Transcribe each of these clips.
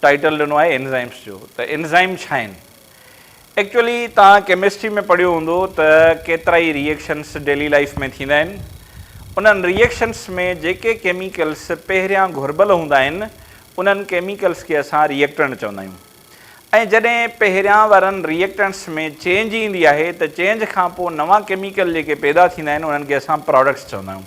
Title ڏنو آهي enzymes جو ته انزائم ڇا آهن؟ ايڪچوئلي توهان ڪيمسٽري ۾ پڙهيو هوندو ته ڪيترائي ري ايڪشنس ڊيلي لائيف ۾ ٿيندا آهن انهن ري ايڪشنس ۾ جيڪي ڪيميڪلس پهريان گهربل هوندا آهن انهن ڪيميڪلس کي اسان ري ايڪٽنٽ چوندا آهيون ۽ جڏهن پهريان وارن ري ايڪٽنٽس ۾ چينج ايندي آهي ته چينج کان پوء نوان ڪيميڪل جيڪي پيدا ٿيندا آهن انهن کي اسان پراڊڪٽس چوندا آهيون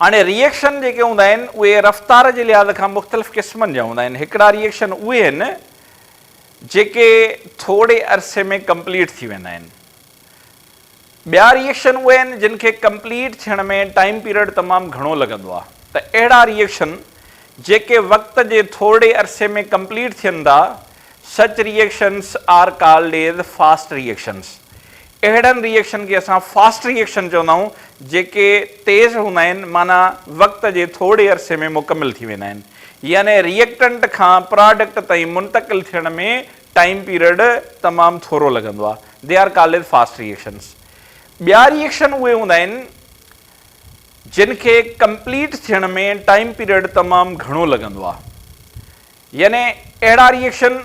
هاڻي ري ايڪشن جيڪي هوندا آهن اهي رفتار جي لحاظ کان مختلف قسمن جا هوندا آهن هڪڙا ري ايڪشن اهي آهن جيڪي ٿوري عرصي ۾ ڪمپليٽ ٿي ويندا آهن ٻيا ري ايڪشن اهي آهن جن کي ڪمپليٽ ٿيڻ ۾ ٽائيم پيريڊ تمام گهڻو لڳندو آهي ته اهڙا ري ايڪشن جيڪي وقت جي ٿورڙي عرصي ۾ ڪمپليٽ ٿين ٿا Such reactions are called as fast reactions اهڙن ري ايڪشن کي اسان فاسٽ ري ايڪشن چوندا آهيون جيڪي تيز هوندا آهن معنيٰ وقت جي ٿورڙي عرصي ۾ مڪمل ٿي ويندا آهن يعني ري ايڪٽنٽ کان پراڊڪٽ تائين منتقل ٿيڻ ۾ ٽائيم پيريڊ تمام ٿورو لڳندو آهي They are called fast reactions ٻيا ري ايڪشن اهي هوندا آهن جن کي ڪمپليٽ ٿيڻ ۾ ٽائيم پيريڊ تمام گهڻو لڳندو آهي يعني اهڙا ري ايڪشن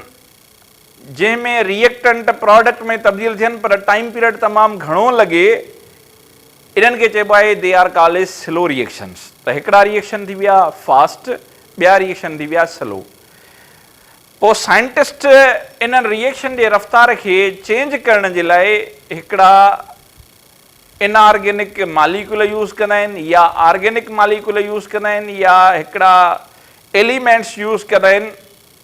جنهن ۾ ري ايڪٽنٽ پراڊڪٽ ۾ تبديل ٿين پر ٽائيم پيريڊ تمام گهڻو لڳي انهن کي چئبو آهي they are call as slow reactions ته هڪڙا ري ايڪشن ٿي ويا فاسٽ ٻيا ري ايڪشن ٿي ويا سلو پوء سائنٽسٽ انهن ري ايڪشن جي رفتار کي چينج ڪرڻ جي لاء هڪڙا ان آرگينڪ ماليڪول يوز ڪندا آهن يا آرگينڪ ماليڪول يوز ڪندا آهن يا هڪڙا ايليمينٽس يوز ڪندا آهن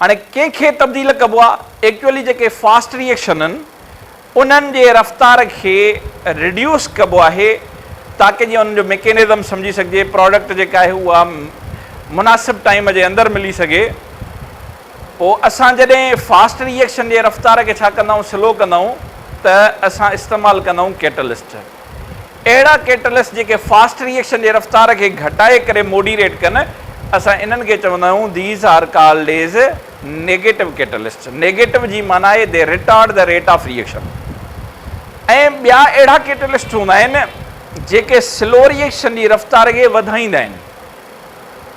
هاڻي ڪنهن کي تبديل ڪبو آ؟ ايڪچوئلي جيڪي فاسٽ ريئيڪشن ان انهن جي رفتار کي ريڊيوس ڪبو آهي تاڪه جيئن انهن جو ميڪينزم سمجهي سگهجي پراڊڪٽ جيڪا آهي اها مناسب ٽائيم جي اندر ملي سگهي پوء اسان جڏهن فاسٽ ريئيڪشن جي رفتار کي ڇا ڪندائون سلو ڪندائون ته اسان استعمال ڪندائون ڪيٽلسٽ. اهڙا ڪيٽلسٽ جيڪي فاسٽ ريئيڪشن جي رفتار کي گهٽائي ڪري موڊيريٽ ڪن اسان انهن کي چوندا آهيون These are called as Negative Catalyst negative جي معنيٰ آهي They Retard the Rate of Reaction ۽ ٻيا اهڙا ڪيٽلسٽ هوندا آهن جيڪي سلو ريئيڪشن جي رفتار کي وڌائيندا آهن.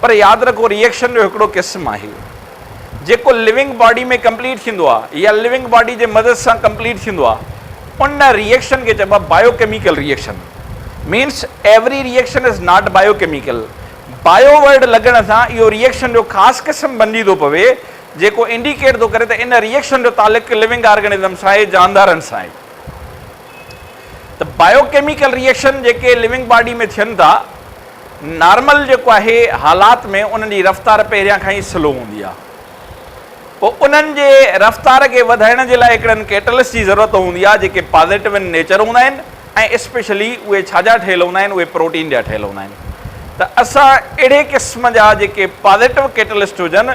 پر ياد رکو ري ايڪشن جو هڪڙو قسم آهي جيڪو ليونگ باڊي ۾ ڪمپليٽ ٿيندو آهي يا ليونگ باڊي جي مدد سان ڪمپليٽ ٿيندو آهي ان ري ايڪشن کي چئبو آهي bio chemical reaction means every reaction is not biochemical bio word لڳڻ سان اهو ري ايڪشن جو خاص قسم بنجي ٿو پوي جيڪو انڊيڪيٽ ٿو ڪري ته ان ري ايڪشن جو تعلق ليونگ آرگنزم سان آهي جاندارن سان آهي. ته بايو ڪيميڪل ري ايڪشن جيڪي لونگ باڊي ۾ ٿين ٿا نارمل جيڪو آهي حالات ۾ انهن جي رفتار پهريان کان ئي سلو هوندي آهي پوء انهن جي رفتار کي وڌائڻ جي لاء هڪڙن ڪيٽلسٽ جي ضرورت هوندي آهي جيڪي پازيٽو ان نيچر هوندا آهن ۽ اسپيشلي اهي ڇا جا ٺهيل هوندا آهن اهي پروٽين جا ٺهيل هوندا آهن ته اسان اهڙي قسم جا جيڪي پازيٽو ڪيٽلسٽ هجن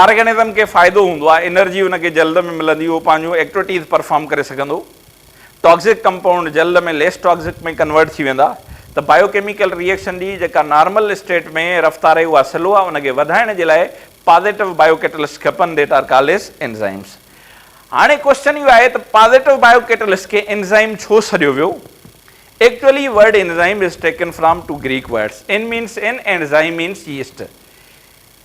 آرگنزم کي فائدو هوندو آهي، انرجي ان کي جلد ۾ ملندي، اهو پنهنجون ايڪٽوٽيز پرفارم ڪري سگهندو، ٽاڪسڪ ڪمپائونڊ جلد ۾ ليس ٽاڪسڪ ۾ ڪنورٽ ٿي ويندا ته بايو ڪيميڪل ري ايڪشن جي جيڪا نارمل اسٽيٽ ۾ رفتار آهي اها سلو آهي ان کي وڌائڻ جي لاء پازيٽو بايو ڪيٽلسٽ کپن that are called as enzymes هاڻي ڪوئسچن اهو آهي ته پازيٽو بايو ڪيٽلسٽ کي انزائم ڇو سڏيو ويو actually word enzyme is taken from two Greek words in means in and zyme means yeast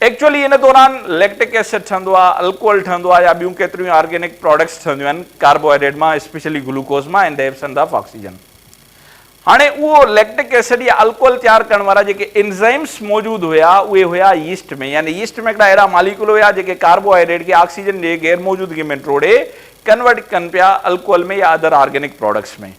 actually ان دوران ليڪٽڪ ايسڊ ٺهندو آهي، الڪوهل ٺهندو آهي يا ٻيون ڪيتريون ئي آرگينڪ پراڊڪٽس ٺهنديون آهن ڪاربوهائيڊريٽ مان اسپيشلي گلوڪوز مان ۽ ڏيب سنڌ آف آڪسيجن. هاڻي اهو ليڪٽڪ ايسڊ يا الڪوهل تيار ڪرڻ وارا جيڪي انزائمز موجود هيا اهي هيا ييسٽ ۾ يعني ييسٽ ۾ هڪڙا اهڙا ماليڪول هيا جيڪي ڪاربوهائيڊريٽ کي آڪسيجن جي غير موجودگي ۾ ٽوڙي ڪنورٽ ڪن پيا الڪوهل ۾ يا ادر آرگينڪ پراڊڪٽس ۾.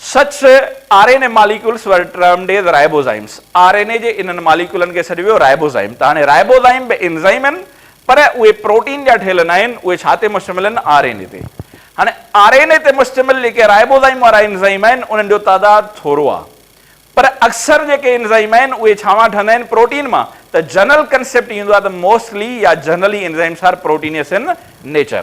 سچ ته R N A molecules were termed as ribozymes, R N A جي انهن ماليڪيولن کي سڏيو ويو رائبوزائم ته هاڻي رائبوزائم به انزائم آهن پر اهي پروٽين جا ٺهيل نه آهن اهي ڇا تي مشتمل آهن آر اين اي تي هاڻي آر اين اي تي مشتمل جيڪي رائبوزائم وارا انزائم آهن انهن جو تعداد ٿورو آهي پر اڪثر جيڪي انزائم آهن اهي ڇا مان ٺهندا آهن پروٽين مان ته جنرل ڪنسيپٽ اهو ايندو آهي ته موسٽلي يا generally enzymes are proteins in nature.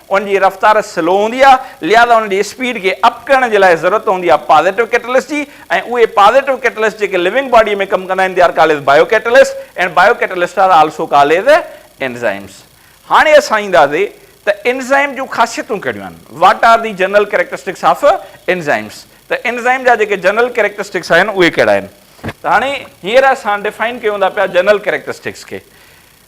ان جي رفتار سلو هوندي آهي لهذا ان جي اسپيڊ کي اپ ڪرڻ جي لاء ضرورت هوندي آهي پازيٽو ڪيٽلسٽ جي ۽ اهي پازيٽو ڪيٽلسٽ جيڪي لوئنگ باڊي ۾ ڪم ڪندا آهن they are called as bio catalyst and bio catalyst are also called as enzymes. هاڻي اسان اينداسي ته انزائم جون خاصيتون ڪهڙيون آهن what are the general characteristics of enzymes ته انزائم جا جيڪي جنرل ڪريڪٽرسٽڪس آهن اهي ڪهڙا آهن ته هاڻي هينئر اسان ڊفائن ڪيون ٿا پيا جنرل ڪريڪٽرسٽڪس کي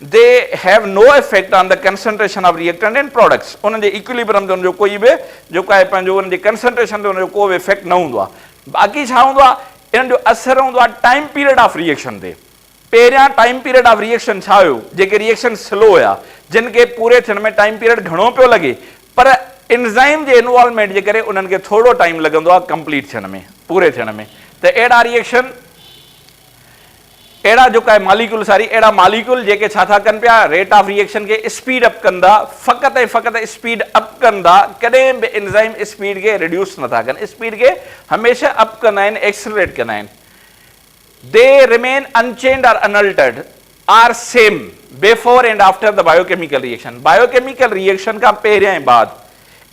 They have no effect on the concentration of reactant and products انهن جي ايڪوليبرم تي ان جو ڪوئي به جيڪو آهي پنهنجو انهن جي ڪنسنٽريشن تي ان جو ڪو به افيڪٽ نه هوندو آهي باقي ڇا هوندو آهي انهن جو اثر هوندو آهي ٽائيم پيريڊ آف ريئيڪشن تي پهريان ٽائيم پيريڊ آف ريئيڪشن ڇا هيو جيڪي ريئيڪشن سلو هيا جن کي پوري ٿيڻ ۾ ٽائيم پيريڊ گهڻو پيو لڳي پر انزائيم جي انوالومينٽ جي ڪري انهن کي ٿورو ٽائيم لڳندو آهي ڪمپليٽ ٿيڻ ۾ پوري ٿيڻ ۾ ته اهڙا ريئيڪشن اهڙا جو ڪاهي ماليڪيول ساري اهڙا ماليڪيول جيڪي ڇا ٿا ڪن پيا ريٽ آف ري ايڪشن کي اسپيڊ اپ ڪن ٿا فقط ۽ فقط اسپيڊ اپ ڪن ٿا ڪڏهن به انزائم اسپيڊ کي ريڊيوس نه ٿا ڪن اسپيڊ کي هميشه اپ ڪندا آهن ايڪسلريٽ ڪندا آهن they remain unchanged or unaltered or same before and after the bio chemical reaction bio chemical reaction کان پهريان ۽ بعد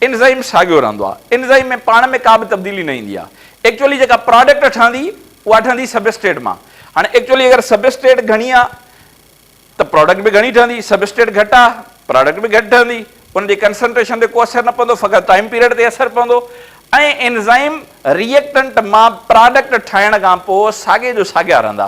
انزائم ساڳيو رهندو آهي. انزائم ۾ پاڻ ۾ ڪا به تبديلي نه ايندي آهي. ايڪچوئلي جيڪا پراڊڪٽ ٺهندي اها ٺهندي سبسٽريٽ مان. هاڻي ايڪچوئلي اگر سبسٽريٽ گهڻي آهي ته پراڊڪٽ به گهڻي ٺهندي، سبسٽريٽ گهٽ آهي پراڊڪٽ به گهٽ ٺهندي. ان جي ڪنسنٽريشن تي ڪو اثر نه پوندو فقط ٽائيم پيريڊ تي اثر پوندو ۽ انزائم ريئيڪٽنٽ مان پراڊڪٽ ٺاهڻ کان پوء ساڳي جو ساڳيا رهندا.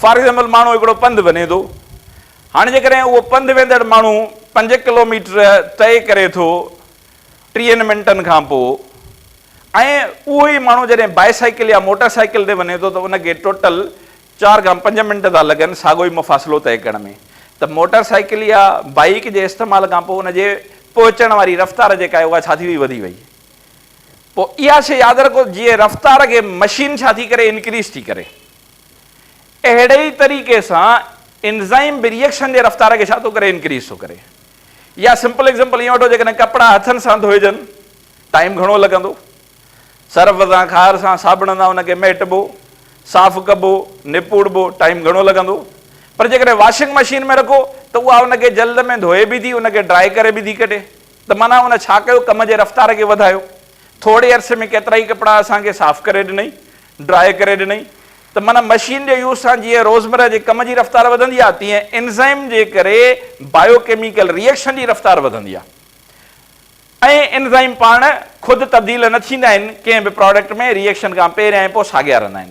فار ايگزامپل ماڻهو هڪڙو پنڌ وڃي ٿو هاڻي جيڪڏهن اهو پنڌ ويندڙ ماڻهو پنج ڪلوميٽر طئي ڪري ٿو ٽيهن منٽن کان پوء ۽ اهو ئي ماڻهو جڏهن بائي سائيڪل يا موٽر سائيڪل تي وڃي ٿو ته ان کي ٽوٽل چار کان پنج منٽ ٿا لڳن ساڳو ئي مفاصلو طئي ڪرڻ ۾ ته موٽر سائيڪل يا بائيڪ جي استعمال کان پوء ان جي پهچڻ واري رفتار جيڪا آهي اها ڇا ٿي وئي وڌي وئي پوء اها شيء ياد رکو جي رفتار کي مشين ڇا ٿي ڪري انڪريز ٿي ڪري اهڙي ئي طريقي سان انزائم به ريئڪشن جي رفتار کي ڇا ٿو ڪري انڪريز ٿو ڪري يا سمپل ايگزامپل ائين وٺو جيڪڏهن ڪپڙا هٿن سان ڌوئجن ٽائيم گهڻو لڳندو سرف سان کار سان صابڻ سان ان کي مهٽبو صاف ڪبو نپوڙبو ٽائيم گهڻو لڳندو پر جيڪڏهن واشنگ مشين ۾ رکو ته اها ان کي جلد ۾ ڌوئي به ٿي ان کي ڊرائي ڪري به ٿي ڪڍي ته معنيٰ ان ڇا ڪيو ڪم جي رفتار کي وڌايو ٿوري عرصي ۾ ڪيترا ئي ڪپڙا اسان کي صاف ڪري ڏنئي ڊرائي ڪري ڏنئي ته معنيٰ مشين جي يوز سان جيئن روزمره جي ڪم جي رفتار وڌندي آهي تيئن انزائم جي ڪري بايو ڪيميڪل ري ايڪشن جي رفتار وڌندي آهي ۽ انزائم پاڻ خود تبديل نه ٿيندا آهن ڪنهن به پراڊڪٽ ۾ ري ايڪشن کان پهريان ۽ پوء ساڳيا رهندا آهن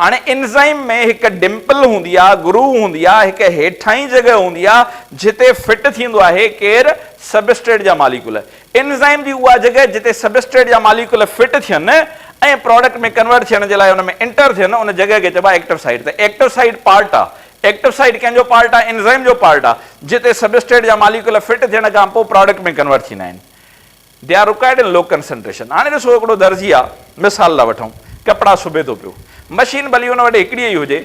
هاڻي انزائم ۾ هڪ ڊمپل هوندي آهي، گروو هوندي آهي، هڪ هيٺاهين جڳهه هوندي آهي جتي فٽ ٿيندو آهي ڪير؟ سبسٽريٽ جا ماليڪول. انزائم جي اها جڳهه جتي سبسٽريٽ جا ماليڪول فٽ ٿين ۽ پراڊڪٽ ۾ ڪنورٽ ٿيڻ جي لاء ان ۾ انٽر ٿين ان جڳهه کي چئبو آهي ايڪٽو سائيٽ ته ايڪٽو سائيٽ پارٽ آهي ايڪٽو سائيٽ ڪنهن جو پارٽ آهي انزائم جو پارٽ آهي جتي سبسٽريٽ جا ماليڪول فٽ ٿيڻ کان پوء پراڊڪٽ ۾ ڪنورٽ ٿيندا آهن they are required in low concentration هاڻي ڏسو هڪڙو درزي آ مثال لا وٺون ڪپڙا سبي ٿو پيو مشين ڀلي ان وٽ هڪڙي ئي هجي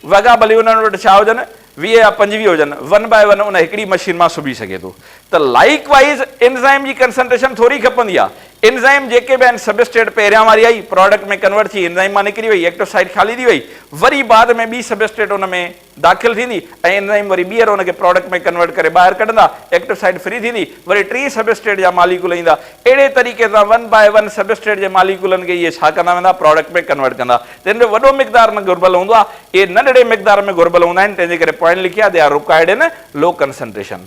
وڳا ڀلي انهن وٽ ڇا هجن ويهه يا پنجويهه هجن ون باء ون ان هڪڙي مشين مان سبي سگهي ٿو ته لائيڪ وائيز انزائم جي ڪنسنٽريشن ٿوري کپندي آ انزائم جيڪي به آهن سبسٽريٽ پهريان واري آئي پراڊڪٽ ۾ ڪنورٽ ٿي انزائم مان نڪري وئي ايڪٽو سائيٽ خالي ٿي وئي وري بعد ۾ ٻي سبسٽريٽ ان ۾ داخل ٿيندي ۽ انزائيم وري ٻيهر ان کي پراڊڪٽ ۾ ڪنورٽ ڪري ٻاهر ڪڍندا، ايڪٽو سائيٽ فري ٿيندي، وري ٽئين سبسٽريٽ جا ماليڪول ايندا، اهڙي طريقي سان ون باء ون سبسٽريٽ جي ماليڪولن کي اهي ڇا ڪندا ويندا پراڊڪٽ ۾ ڪنورٽ ڪندا، تن جو وڏو مقدار نه گهربل هوندو آهي، اهي ننڍڙي مقدار ۾ گهربل هوندا آهن، تنهن جي ڪري پوائنٽ لکي آهي، They are required in low concentration.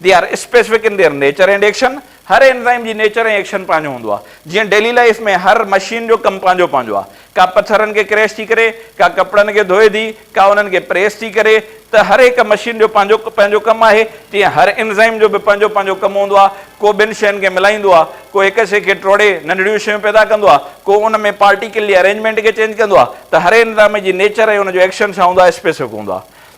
They are specific in their nature and action, هر اينزائيم جي نيچر ۽ ايڪشن پنهنجو هوندو آهي، جيئن ڊيلي لائيف ۾ هر مشين جو ڪم پنهنجو پنهنجو آهي، ڪا پٿرن کي ڪريش ٿي ڪري، ڪا ڪپڙن کي ڌوئي ٿي، ڪا انهن کي پريس ٿي ڪري، ته هر هڪ مشين جو پنهنجو پنهنجو ڪم آهي، تيئن هر اينزائيم جو به پنهنجو پنهنجو ڪم هوندو آهي، ڪو ٻن شين کي ملائيندو آهي، ڪو هڪ شي کي ٽوڙي ننڍڙيون شيون پيدا ڪندو آهي، ڪو ان ۾ پارٽيڪل جي ارينجمينٽ کي چينج ڪندو آهي، ته هر اينزائيم جي نيچر ۽ ان جو ايڪشن ڇا هوندو آهي اسپيسفڪ هوندو آهي.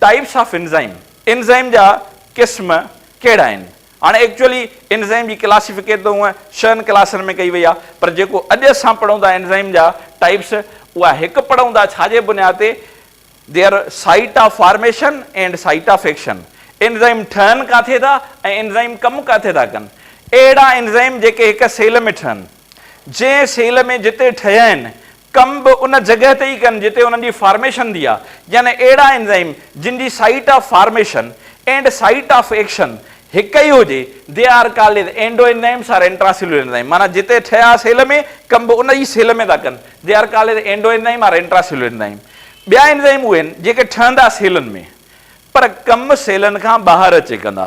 ٽائيپس آف انزائيم، انزائيم جا قسم ڪهڙا آهن؟ هاڻ ايڪچوئلي انزائيم جي ڪلاسيفڪيٽ ته هونء ڇهن ڪلاسن ۾ ڪئي وئي آهي پر جيڪو اڄ اسان پڙهون ٿا انزائيم جا ٽائيپس اها هڪ پڙهون ٿا ڇا جي بنياد تي Their Site of Formation and Site of Action enzyme ٺهن ڪاٿي ٿا ۽ انزائيم ڪم ڪاٿي ٿا ڪن اهڙا انزائيم جيڪي هڪ سيل ۾ ٺهن جنهن سيل ۾ جتي ٺهيا آهن ڪم به ان جڳهه تي ئي ڪن جتي انهن جي فارميشن ٿي آهي، يعني اهڙا انزائيم جن جي site of formation and site of action هڪ ئي هجي، they are called as endoenzymes or intracellular enzyme, معنيٰ جتي ٺهيا سيل ۾ ڪم به ان ئي سيل ۾ ٿا ڪن، they are called as endo enzyme or intracellular enzyme. ٻيا انزائيم اهي آهن جيڪي ٺهندا سيلن ۾ پر ڪم سيلن کان ٻاهر اچي ڪندا،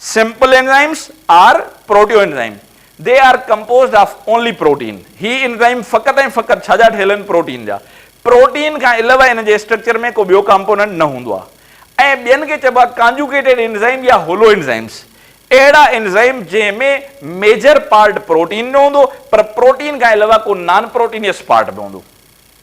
Simple enzymes are proteoenzyme. They are composed of only protein. هي انزائم فقط ۽ فقط ڇا جا ٺهيل آهن پروٽين جا. پروٽين کان علاوه ان جي اسٽرڪچر ۾ ڪو ٻيو ڪامپوننٽ نه هوندو آهي ۽ ٻين کي چئبو آهي ڪانجوڪيٽيڊ انزائم يا هولو انزائمز. اهڙا انزائم جنهن ۾ ميجر پارٽ پروٽين جو هوندو پر پروٽين کان علاوه ڪو نان پروٽينيس پارٽ به هوندو.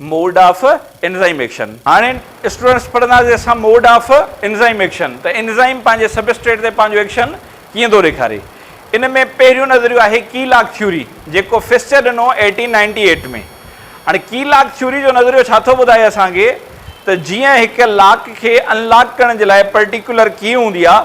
موڊ آف انزائم ايڪشن، هاڻي اسٽوڊنٽس پڙهنداسين اسان موڊ آف انزائم ايڪشن ته انزائم پنهنجي سبسٽريٽ تي پنهنجو ايڪشن ڪيئن ٿو ڏيکاري. ان ۾ پهريون نظريو آهي ڪي لاگ ٿيوري جيڪو فسچر ڏنو ايٽين نائنٽي ايٽ ۾. هاڻي ڪي لاگ ٿيوري جو نظريو ڇا ٿو ٻڌائي اسان کي ته جيئن هڪ لاڪ کي ان لاڪ ڪرڻ جي لاء پرٽيڪولر ڪي هوندي آهي،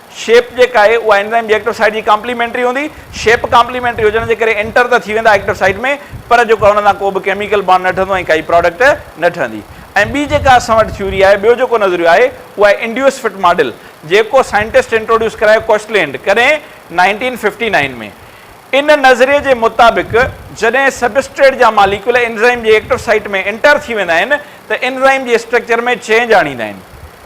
شيپ جيڪا آهي اها انزائم جي ايڪٽو سائيٽ جي ڪامپليمينٽري هوندي. شيپ ڪامپليمينٽري هجڻ جي ڪري انٽر ته ٿي ويندا ايڪٽو سائيٽ ۾ پر جيڪو آهي ان سان ڪو به ڪيميڪل بانڊ نه ٺهندو ۽ ڪائي پراڊڪٽ نه ٺهندي. ۽ ٻي جيڪا اسان وٽ ٿيوري آهي، ٻيو جيڪو نظريو آهي اهو آهي انڊيوس فٽ ماڊل جيڪو سائنٽسٽ انٽروڊيوس ڪرايو ڪوشلينڊ ڪڏهن نائنٽين ففٽي نائين ۾ ان نظريي جي مطابق جڏهن سبسٽريٽ جا ماليڪيول انزائم جي ايڪٽو سائيٽ ۾ انٽر ٿي ويندا آهن ته انزائم جي اسٽرڪچر ۾ چينج آڻيندا آهن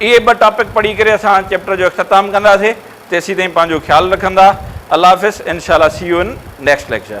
اهي ٻه ٽاپڪ پڙهي ڪري اسان چيپٽر جو اختتام ڪنداسي تيسيتائين پنهنجو خيال رکندا الله حافظ انشاء الله see you in next lecture.